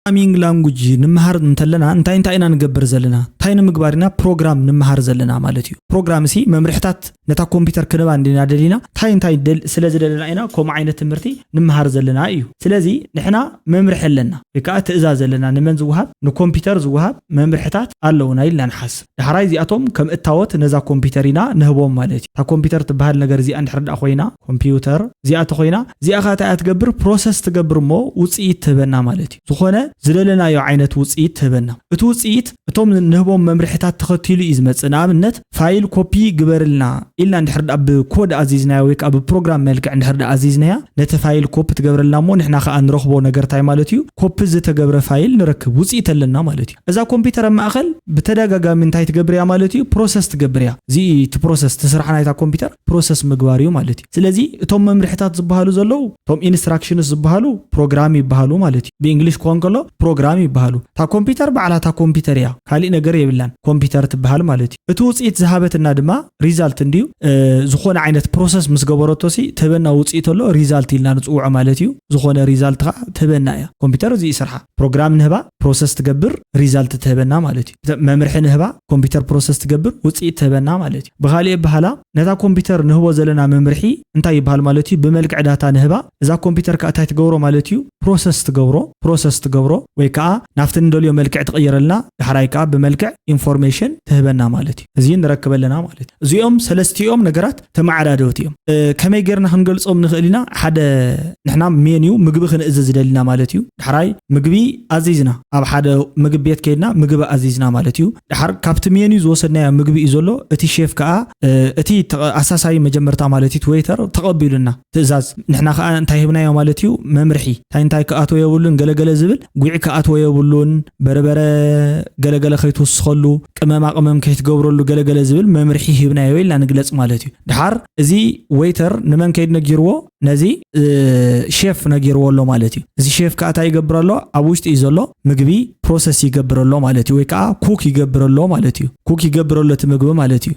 ፕሮግራሚንግ ላንጉጅ ንምሃር እንተለና እንታይ እንታይ ኢና ንገብር ዘለና እንታይ ንምግባር ኢና ፕሮግራም ንምሃር ዘለና ማለት እዩ ፕሮግራም ሲ መምርሕታት ነታ ኮምፒውተር ክንባ እንዲና ደሊና እንታይ እንታይ ስለ ዝደለና ኢና ከምኡ ዓይነት ትምህርቲ ንምሃር ዘለና እዩ ስለዚ ንሕና መምርሒ ኣለና ወይ ከዓ ትእዛዝ ኣለና ንመን ዝወሃብ ንኮምፒውተር ዝወሃብ መምርሕታት ኣለውና ኢልና ንሓስብ ዳሕራይ እዚኣቶም ከም እታወት ነዛ ኮምፒተር ኢና ንህቦም ማለት እዩ። እታ ኮምፒተር ትበሃል ነገር እዚኣ እንድሕር ደኣ ኮይና፣ ኮምፒውተር፣ እዚኣ ተኾይና፣ እዚኣ ከኣ እንታይ እያ ትገብር ፕሮሰስ ትገብር እሞ ውጽኢት ትህበና ማለት እዩ። ዝኾነ ዝደለናዮ ዓይነት ውጽኢት ትህበና። እቲ ውጽኢት እቶም ንህቦም መምርሒታት ተኸቲሉ እዩ ዝመጽእ። ንኣብነት ፋይል ኮፒ ግበርልና ኢልና እንድሕር ደኣ ብኮድ ኣዚዝናያ ወይ ከኣ ብፕሮግራም መልክዕ እንድሕር ደኣ ኣዚዝናያ ነቲ ፋይል ኮፒ ትገብረልና እሞ ንሕና ከኣ ንረኽቦ ነገር እንታይ ማለት እዩ ኮፒ ዝተገብረ ፋይል ንረክብ ውጽኢት ኣለና ማለት እዩ። እዛ ኮምፒተር ኣብ ማእከል ብተዳጋጋሚ እንታይ ትገብር እያ ማለት እዩ ፕሮሰስ ትገብር እያ እዚ እዩ እቲ ፕሮሰስ እቲ ስራሕ ናይታ ኮምፒተር ፕሮሰስ ምግባር እዩ ማለት እዩ ስለዚ እቶም መምርሕታት ዝበሃሉ ዘለዉ እቶም ኢንስትራክሽንስ ዝበሃሉ ፕሮግራም ይበሃሉ ማለት እዩ ብእንግሊሽ ክኾን ከሎ ፕሮግራም ይበሃሉ እታ ኮምፒተር ባዕላ እታ ኮምፒተር እያ ካሊእ ነገር የብላን ኮምፒተር ትበሃል ማለት እዩ እቲ ውፅኢት ዝሃበትና ድማ ሪዛልት እንድዩ ዝኾነ ዓይነት ፕሮሰስ ምስ ገበረቶ ሲ ትህበና ውፅኢት ኣሎ ሪዛልት ኢልና ንፅውዖ ማለት እዩ ዝኾነ ሪዛልት ከዓ ትህበና እያ ኮምፒተር እዚ እዩ ስርሓ ፕሮግራም ንህባ ፕሮሰስ ትገብር ሪዛልት ትህበና ማለት እዩ። መምርሒ ንህባ ኮምፒተር ፕሮሰስ ትገብር ውፅኢት ትህበና ማለት እዩ። ብኻሊእ ኣበሃህላ ነታ ኮምፒተር ንህቦ ዘለና መምርሒ እንታይ ይበሃል ማለት እዩ? ብመልክዕ ዳታ ንህባ እዛ ኮምፒተር ከዓ እንታይ ትገብሮ ማለት እዩ? ፕሮሰስ ትገብሮ ፕሮሰስ ትገብሮ ወይ ከዓ ናፍቲ ንደልዮ መልክዕ ትቕይረልና ዳሕራይ ከዓ ብመልክዕ ኢንፎርሜሽን ትህበና ማለት እዩ። እዙይ ንረክብ ኣለና ማለት እዩ። እዚኦም ሰለስቲኦም ነገራት ተመዓዳደውቲ እዮም። ከመይ ጌርና ክንገልጾም ንኽእል ኢና? ሓደ ንሕና ሜንዩ ምግቢ ክንእዝዝ ደሊና ማለት እዩ። ዳሕራይ ምግቢ ኣዚዝና ኣብ ሓደ ምግብ ቤት ከይድና ምግቢ ኣዚዝና ማለት እዩ። ድሓር ካብቲ ሜንዩ ዝወሰድናዮ ምግቢ እዩ ዘሎ እቲ ሼፍ ከኣ እቲ ኣሳሳዪ መጀመርታ ማለት እዩ ዌይተር ተቐቢሉና ትእዛዝ ንሕና ከኣ እንታይ ሂብናዮ ማለት እዩ መምርሒ እንታይ እንታይ ክኣትዎ የብሉን ገለ ገለ ዝብል ጉዒ ክኣትዎ የብሉን በርበረ ገለ ገለ ከይትውስኸሉ ቅመማ ቅመም ከይትገብረሉ ገለ ገለ ዝብል መምርሒ ሂብናዮ ኢልና ንግለጽ ማለት እዩ ድሓር እዚ ወይተር ንመን ከይድ ነጊርዎ ነዚ ሼፍ ነጊርዎ ኣሎ ማለት እዩ እዚ ሼፍ ከዓ እንታይ ይገብር ኣሎ ኣብ ውሽጢ እዩ ዘሎ ምግቢ ፕሮሰስ ይገብር ኣሎ ማለት እዩ ወይ ከዓ ኩክ ይገብር ኣሎ ማለት እዩ ኩክ ይገብር ኣሎ እቲ ምግቢ ማለት እዩ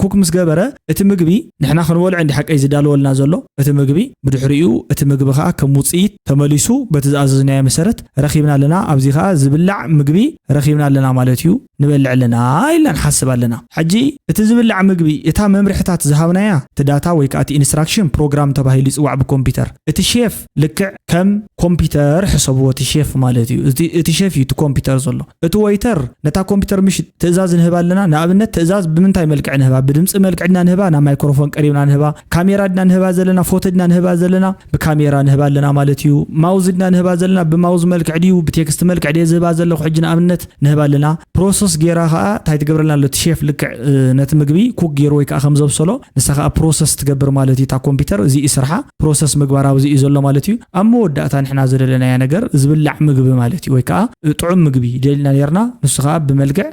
ኩክ ምስ ገበረ እቲ ምግቢ ንሕና ክንበልዖ እንዲ ሓቀይ ዝዳለወልና ዘሎ እቲ ምግቢ ብድሕሪኡ እቲ ምግቢ ከኣ ከም ውጽኢት ተመሊሱ በቲ ዝኣዘዝናዮ መሰረት ረኺብና ኣለና ኣብዚ ከኣ ዝብላዕ ምግቢ ረኺብና ኣለና ማለት እዩ ንበልዕ ኣለና ኢልና ንሓስብ ኣለና ሕጂ እቲ ዝብላዕ ምግቢ እታ መምርሕታት ዝሃብናያ እቲ ዳታ ወይ ከኣ እቲ ኢንስትራክሽን ፕሮግራም ተባሂሉ ይጽዋዕ ብኮምፒተር እቲ ሼፍ ልክዕ ከም ኮምፒተር ሕሰብዎ እቲ ሼፍ ማለት እዩ እቲ ሼፍ እዩ እቲ ኮምፒተር ዘሎ እቲ ወይተር ነታ ኮምፒተር ምሽ ትእዛዝ ንህባ ኣለና ንኣብነት ትእዛዝ ብምንታይ መልክዕ ንህባ ብድምፂ መልክዕ ድና ንህባ ናብ ማይክሮፎን ቀሪብና ንህባ ካሜራ ድና ንህባ ዘለና ፎቶ ድና ንህባ ዘለና ብካሜራ ንህባ ኣለና ማለት እዩ ማውዝ ድና ንህባ ዘለና ብማውዝ መልክዕ ድዩ ብቴክስት መልክዕ ድየ ዝህባ ዘለኹ ሕጂ ንኣብነት ንህባ ኣለና ፕሮሶስ ጌራ ከኣ ታይ ትገብረልና ኣሎ እቲ ሼፍ ልክዕ ነቲ ምግቢ ኩክ ጌሩ ወይ ከኣ ከም ዘብሰሎ ንሳ ከኣ ፕሮሰስ ትገብር ማለት እዩ እታ ኮምፒተር እዚ እዩ ስርሓ ፕሮሰስ ምግባር ኣብዚ እዩ ዘሎ ማለት እዩ ኣብ መወዳእታ ንሕና ዝደለናያ ነገር ዝብላዕ ምግቢ ማለት እዩ ወይ ከኣ ጥዑም ምግቢ ደሊና ኔርና ንሱ ከኣ ብመልክዕ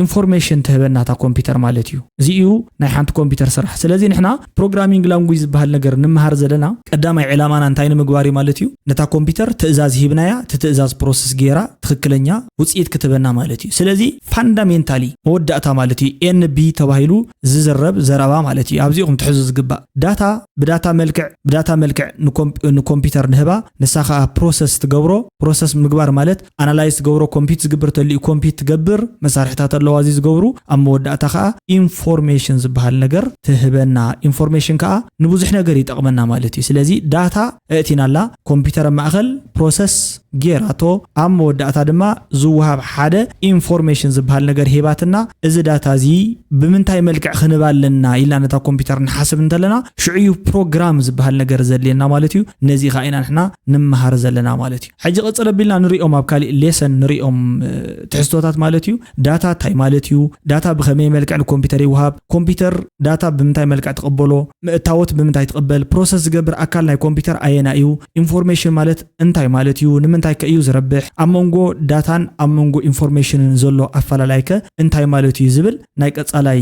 ኢንፎርሜሽን ትህበና እታ ኮምፒተር ማለት እዩ እዚ እዩ ናይ ሓንቲ ኮምፒተር ስራሕ ስለዚ ንሕና ፕሮግራሚንግ ላንጉጅ ዝበሃል ነገር ንመሃር ዘለና ቀዳማይ ዕላማና እንታይ ንምግባር እዩ ማለት እዩ? ነታ ኮምፒተር ትእዛዝ ሂብናያ እቲ ትእዛዝ ፕሮሰስ ገይራ ትኽክለኛ ውፅኢት ክትህበና ማለት እዩ። ስለዚ ፋንዳሜንታሊ መወዳእታ ማለት እዩ NB ተባሂሉ ዝዝረብ ዘረባ ማለት እዩ። ኣብዚ ኢኹም ትሕዙ ዝግባእ። ዳታ ብዳታ መልክዕ ብዳታ መልክዕ ንኮምፒተር ንህባ ንሳ ከዓ ፕሮሰስ ትገብሮ። ፕሮሰስ ምግባር ማለት ኣናላይዝ ትገብሮ ኮምፒት ዝግብር ተልዩ ኮምፒት ትገብር መሳርሕታት ኣለዋ እዚ ዝገብሩ ኣብ መወዳእታ ከዓ ኢንፎርሜሽን ዝበሃል ነገር ትህበና ኢንፎርሜሽን ከዓ ንብዙሕ ነገር ይጠቕመና ማለት እዩ ስለዚ ዳታ እእቲናላ ኮምፒተር ማእኸል ፕሮሰስ ጌራቶ ኣብ መወዳእታ ድማ ዝወሃብ ሓደ ኢንፎርሜሽን ዝበሃል ነገር ሂባትና እዚ ዳታ እዚ ብምንታይ መልክዕ ክንባ ኣለና ኢልና ነታ ኮምፒተር ንሓስብ እንተለና ሽዑ እዩ ፕሮግራም ዝበሃል ነገር ዘድልየና ማለት እዩ ነዚ ከዓ ኢና ንሕና ንመሃር ዘለና ማለት እዩ ሕጂ ቅጽል ኣቢልና ንሪኦም ኣብ ካሊእ ሌሰን ንሪኦም ትሕዝቶታት ማለት እዩ። ዳታ ታይ ማለት እዩ? ዳታ ብኸመይ መልክዕ ንኮምፒተር ይውሃብ? ኮምፒተር ዳታ ብምንታይ መልክዕ ትቕበሎ? ምእታዎት ብምንታይ ትቕበል? ፕሮሰስ ዝገብር ኣካል ናይ ኮምፒተር ኣየናይ እዩ? ኢንፎርሜሽን ማለት እንታይ ማለት እዩ? ንምንታይ ከ እዩ ዝረብሕ? ኣብ መንጎ ዳታን ኣብ መንጎ ኢንፎርሜሽንን ዘሎ ኣፈላላይከ እንታይ ማለት እዩ? ዝብል ናይ ቀጻላይ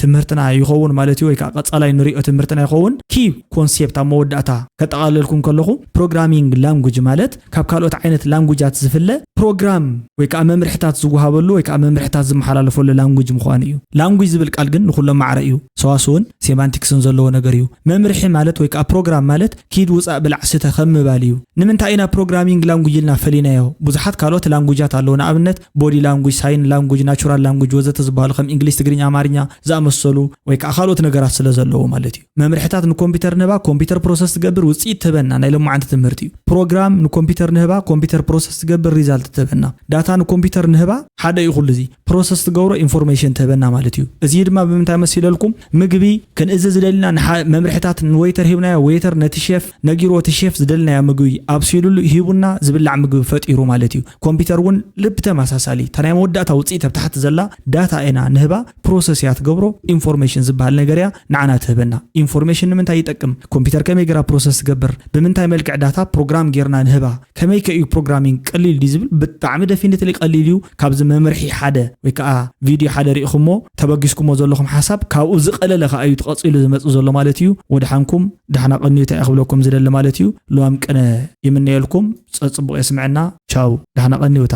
ትምህርትና ይኸውን ማለት እዩ ወይ ከዓ ቀጻላይ ንሪኦ ትምህርትና ይኸውን ኪ ኮንሴፕት ኣብ መወዳእታ ከጠቓለልኩም ከለኹ ፕሮግራሚንግ ላንጉጅ ማለት ካብ ካልኦት ዓይነት ላንጉጃት ዝፍለ ፕሮግራም ወይ ከዓ መምርሕታት ዝወሃበሉ ወይ ከዓ መምርሕታት ዝመሓላለፈሉ ላንጉጅ ምዃኑ እዩ ላንጉጅ ዝብል ቃል ግን ንኩሎም ማዕረ እዩ ሰዋስውን ሴማንቲክስን ዘለዎ ነገር እዩ መምርሒ ማለት ወይ ከዓ ፕሮግራም ማለት ኪድ ውፃእ ብላዕ ስተ ከም ምባል እዩ ንምንታይ ኢና ፕሮግራሚንግ ላንጉጅ ኢልና ፈሊናዮ ብዙሓት ካልኦት ላንጉጃት ኣለዉ ንኣብነት ቦዲ ላንጉጅ፣ ሳይን ላንጉጅ፣ ናቹራል ላንጉጅ ወዘተ ዝበሃሉ ከም እንግሊዝ፣ ትግርኛ፣ ኣማርኛ ዝኣመሰሉ ወይ ከዓ ካልኦት ነገራት ስለ ዘለዎ ማለት እዩ። መምርሕታት ንኮምፒተር ንህባ ኮምፒተር ፕሮሰስ ትገብር ውፅኢት ትህበና ናይ ሎማዓንቲ ትምህርቲ እዩ። ፕሮግራም ንኮምፒተር ንህባ ኮምፒተር ፕሮሰስ ትገብር ሪዛልት ትህበና። ዳታ ንኮምፒተር ንህባ ሓደ እዩ ኩሉ እዚ ፕሮሰስ ትገብሮ ኢንፎርሜሽን ትህበና ማለት እዩ። እዚ ድማ ብምንታይ መሲለልኩም ምግቢ ክንእዝዝ ዝደሊና ንሓ- መምርሕታት ንወይተር ሂብናዮ ወይተር ነቲ ሼፍ ነጊርዎ እቲ ሼፍ ዝደልናዮ ምግቢ ኣብሲሉሉ ሂቡና ዝብላዕ ምግቢ ፈጢሩ ማለት እዩ። ኮምፒተር ውን ልብ ተመሳሳሊ እታ ናይ መወዳእታ ውጽኢት ኣብ ታሕቲ ዘላ ዳታ ኢና ንህባ ፕሮሰስ እያ ትገብሮ ኢንፎርሜሽን ዝበሃል ነገር እያ ንዓና ትህበና ኢንፎርሜሽን ንምንታይ ይጠቅም ኮምፒተር ከመይ ገራ ፕሮሰስ ትገብር ብምንታይ መልክዕ ዳታ ፕሮግራም ጌርና ንህባ ከመይ ከ እዩ ፕሮግራሚንግ ቀሊል ድዩ ዝብል ብጣዕሚ ደፊኒትሊ ቀሊል እዩ ካብዚ መምርሒ ሓደ ወይ ከዓ ቪድዮ ሓደ ርኢኹሞ ተበጊስኩሞ ዘለኹም ሓሳብ ካብኡ ዝቀለለ ከዓ እዩ ተቐፂሉ ዝመፅ ዘሎ ማለት እዩ ወድሓንኩም ዳሕና ቀንዩታ እየ ክብለኩም ዝደሊ ማለት እዩ ልዋም ቅነ ይምነየልኩም ጸጽቡቕ የስምዐና ቻው ዳህና ቀኒውታ።